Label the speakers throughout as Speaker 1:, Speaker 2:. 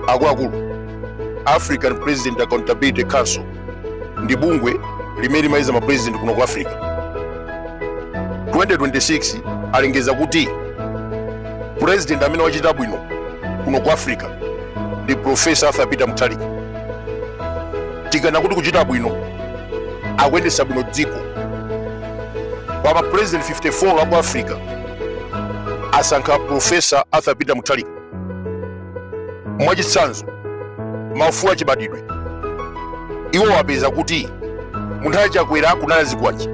Speaker 1: akuluakulu african president accountability council ndi bungwe limene limayeza mapresident kuno ku africa 2026 alengeza kuti president amene wachita bwino kuno ku africa ndi profesa arthur peter mutharika tikanena kuti kuchita bwino akuyendetsa bwino dziko pa mapresident 54 aku africa asankha Profesa Arthur Peter Mutharika mwachitsanzo maufulu achibadidwe iwo wapeza kuti munthawi chakwera kunali zikwanje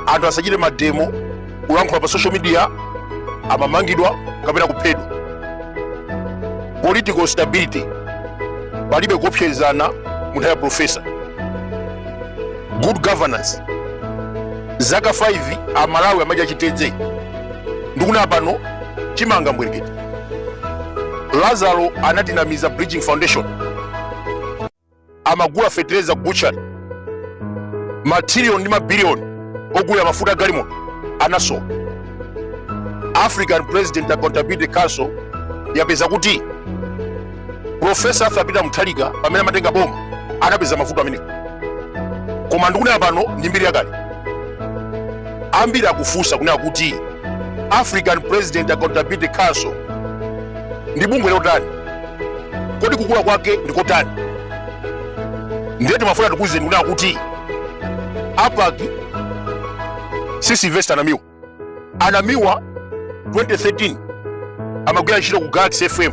Speaker 1: anthu asachite mademo kulankhula pa social media amamangidwa kapena kuphedwa political stability palibe kuopsezerana munthawi ya profesa good governance zaka 5 amalawi amadya chitedze ndikunena pano chimanga mbwerekete lazaro anatinamiza bridging foundation amagula fetereza ku butchery matrilioni ndi mabiliyoni ogulira mafuta galimoto anaso african president accountability council yapeza kuti Profesa Arthur Peter Mutharika pamene amatenga boma adapeza mavuto amenewo, koma ndikunena pano ndi mbiri yakale. Ambiri akufunsa kunena kuti African President Accountability Council ndi bungwe lotani, kodi kukula kwake ndi kotani? Ndiye timafuna tikuwuzeni kunena kuti APAC si Sylvester Namiwa. anamiwa 2013 amagwira ntchito ku galaxy fm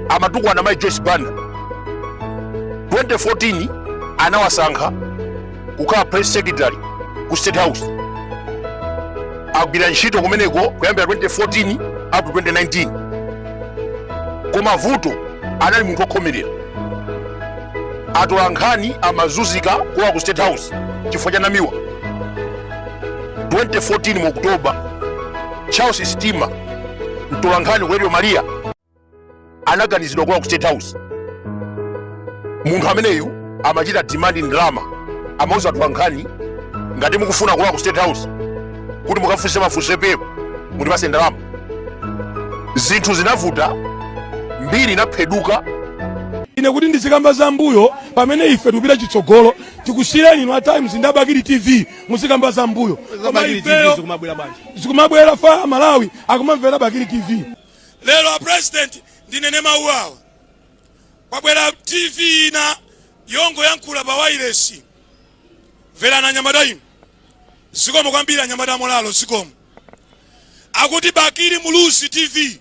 Speaker 1: amatukwana mai joyce banda 2014 anawasankha kukhala press secretary ku state house agwira ntchito kumeneko kuyambira 2014 up to 2019 koma vuto anali munthu okhomerera atolankhani amazunzika kulowa ku state house chifukwa cha namiwa 2014 mu Oktoba, Charles Stima, mtolankhani ku Radio Maria, anakanizidwa kulowa ku State House. Munthu ameneyu amachita demand ndalama, amauza atolankhani ngati mukufuna kulowa ku State House kuti mukafunse mafunso epepo mutipatse ndalama. Zinthu zinavuta, mbiri inapheduka. ine kuti ndizikamba zam'mbuyo pamene ife tikupita chitsogolo tikusiyireni inu a times ndi a bakili tv muzikamba za mbuyo koma ifeyo zikumabwera apa amalawi akumamvera bakili tv lero a president ndinene mawu awa kwabwera tv ina yongoyankhula pa wailesi mverani anyamata inu zikomo kwambiri anyamata amulolo zikomo akuti bakili muluzi tv